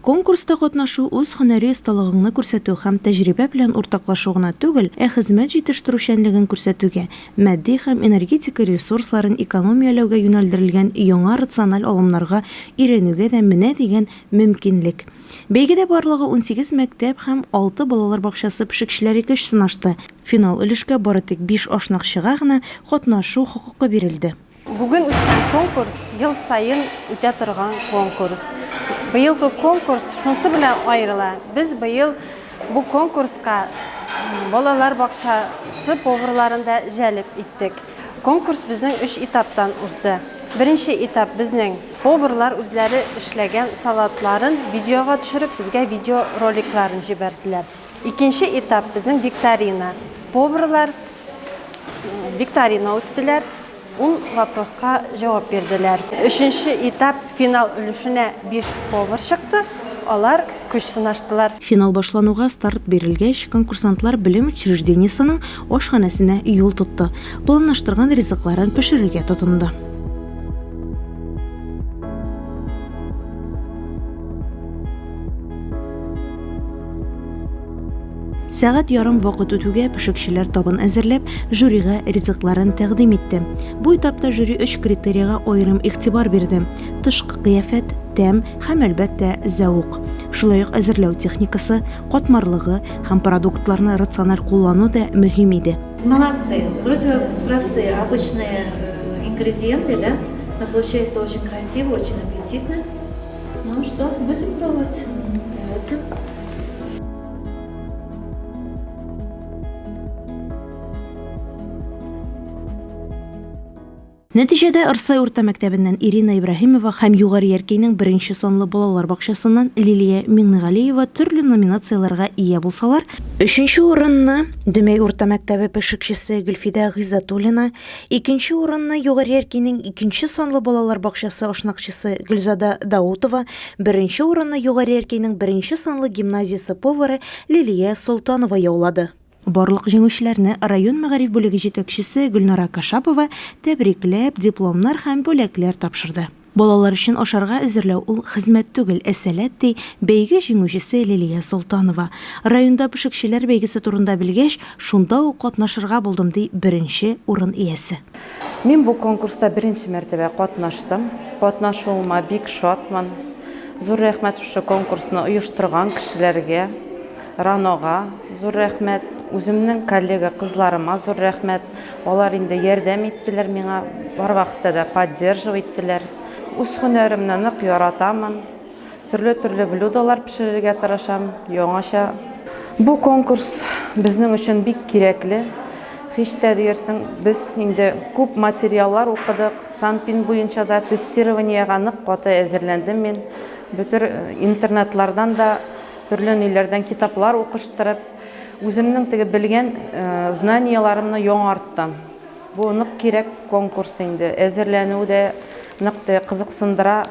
Конкурста катнашу үз һөнәри осталыгыңны күрсәтү һәм тәҗрибә белән уртаклашу гына түгел, ә хезмәт җитештерүчәнлеген күрсәтүгә, матди һәм энергетика ресурсларын экономияләүгә юнәлдерелгән яңа рациональ алымнарга өйрәнүгә дә менә дигән мөмкинлек. Бәйгедә барлыгы унсигез мәктәп һәм алты балалар бакчасы пешекчеләре көч сынашты, финал өлешкә бары тик биш ашнакчыга гына катнашу хокукы бирелде. Бүген үткән конкурс ел саен үтә торган конкурс. Быелгы конкурс шунсы белән аерыла. Без быел бу конкурска балалар бакчасы поварларын да җәлеп иттек. Конкурс безнең өч этаптан узды. Беренче этап безнең поварлар үзләре эшләгән салатларын видеога төшереп, безгә видеороликларын җибәрделәр. Икенче этап безнең викторина. Поварлар викторина үттеләр, ул вопроска җавап бирделәр. Өченче этап финал өлешенә биш повар чыкты, алар көч сынаштылар. Финал башлануга старт бирелгәч, конкурсантлар белем учреждениесенең ашханәсенә юл тотты, планлаштырган ризыкларын пешерергә тотынды. Сәгать ярым вакыт үтүгә пешекчеләр табын әзерләп, жюрига ризыкларын тәкъдим итте. Бу этапта жюри өч критерийга аерым игътибар бирде: тышкы кыяфәт, тәм һәм, әлбәттә, зәвык. Шулай ук әзерләү техникасы, катмарлыгы һәм продуктларны рациональ куллану да мөһим иде. Молодцы, вроде бы простые, обычные э, ингредиенты, да, но получается очень красиво, очень аппетитно. Ну что, будем пробовать? Давайте. Нәтиҗәдә Ырсай урта мәктәбеннән Ирина Ибраһимова һәм Югары Яркәйнең беренче санлы балалар бакчасыннан Лилия Миңнегалиева төрле номинацияләргә ия булсалар, өченче урынны Дөмәй урта мәктәбе пешекчесе Гөлфидә Гыйззатуллина, Икенче урынны Югары Яркинең икенче санлы балалар бакчасы ашнакчысы Гөлзада Даутова, беренче урынны Югары Яркинең беренче санлы гимназиясе повары Лилия Солтанова яулады. Барлык җиңүчеләрне район мәгариф бүлеге җитәкчесе Гөлнара Кашапова тәбрикләп, дипломнар һәм бүләкләр тапшырды. Балалар өчен ашарга әзерләү ул хезмәт түгел, ә сәләт, ди бәйге җиңүчесе Лилия Солтанова. Районда пешекчеләр бәйгесе турында белгәч, шунда ук катнашырга булдым, ди беренче урын иясе. Мин бу конкурста беренче мәртәбә катнаштым. Катнашуыма бик шатмын. Зур рәхмәт шушы конкурсны оештырган кешеләргә, РАНОга зур рәхмәт, үземнең коллега кызларыма зур рәхмәт. Алар инде ярдәм иттеләр миңа, бар вакытта да поддерживать иттеләр. Үз һөнәремне нык яратамын. Төрле-төрле блюдолар пешерергә тырышам, яңача. Бу конкурс безнең өчен бик кирәкле. Һич тә диерсең, без инде күп материаллар укыдык, Санпин буенча да тестированиегә нык каты әзерләндем мин. Бөтер интернетлардан да, төрле ниләрдән китаплар укыштырып, Үземнең теге белгән знанияләремне яңарттым. Бу нык кирәк конкурс инде. Әзерләнү дә нык теге кызыксындыра.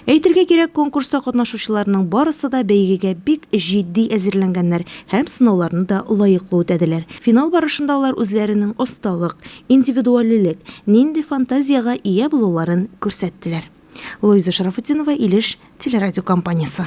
Әйтергә кирәк, конкурста катнашучыларның барысы да бәйгегә бик җитди әзерләнгәннәр һәм сынауларны да лаеклы үтәделәр. Финал барышында алар үзләренең осталык, индивидуалилек, нинди фантазиягә ия булуларын күрсәттеләр. Луиза Шарафутдинова, Илеш телерадиокомпаниясе.